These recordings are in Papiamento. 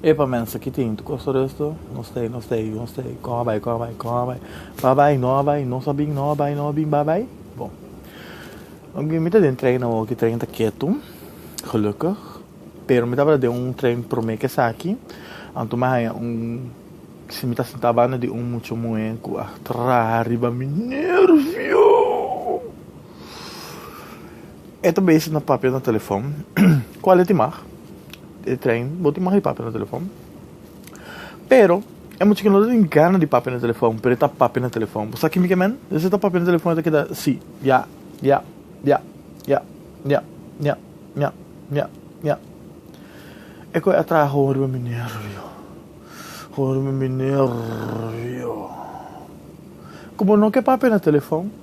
E pa mensa ki tin Costa do Este, no stay, no stay, no stay, kon a bai, kon a bai, kon a bai, pa bai, no a bai, no sa bin, no a bai, no a bin, ba bai, bon. Oké, mi ta den trein awor, ki trein ta ketu, gelukkig, pero mi tabata den un trein prome ke esaki, anto mi a haña un, si mi ta sinta banda di un mucha muhé ku a traha riba mi, nervio! E ta bezig na papia na telefon. Kual e tin mag? E trein bo tin mag di papia na telefon. Pero, e muchacho no ta tin gana di papia na telefon, pero e ta papia na telefon. Bo sa kimi ke men? Desa e ta papia na telefon e ta keda si, ya, ya, ya, ya, ya, ya, ya, ya, ya. E koe a traha horu riba mi nervio, horu riba mi nervio. Ku bo no ke papia na telefon?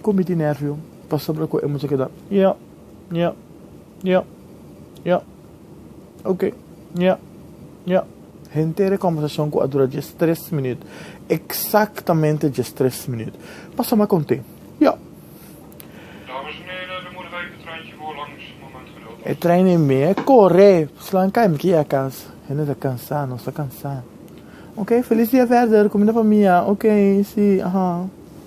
Cu mi tin nervio pasobra cu e mucha keda nya, nya, nya, nya, ok, nya, nya, henter e conversacion cu a dura diestres minuut, exactamente diestres minuut. Pasa ma conte, ja. Dames en heren, de moederij de treintje voor langs, een moment geduld E trein e mi e corre, slaan kai mi kie ya cas. Hende ta cansa, nos ta cansa. Ok, feliz dia verder, cu mi na famia, ok, si, aha.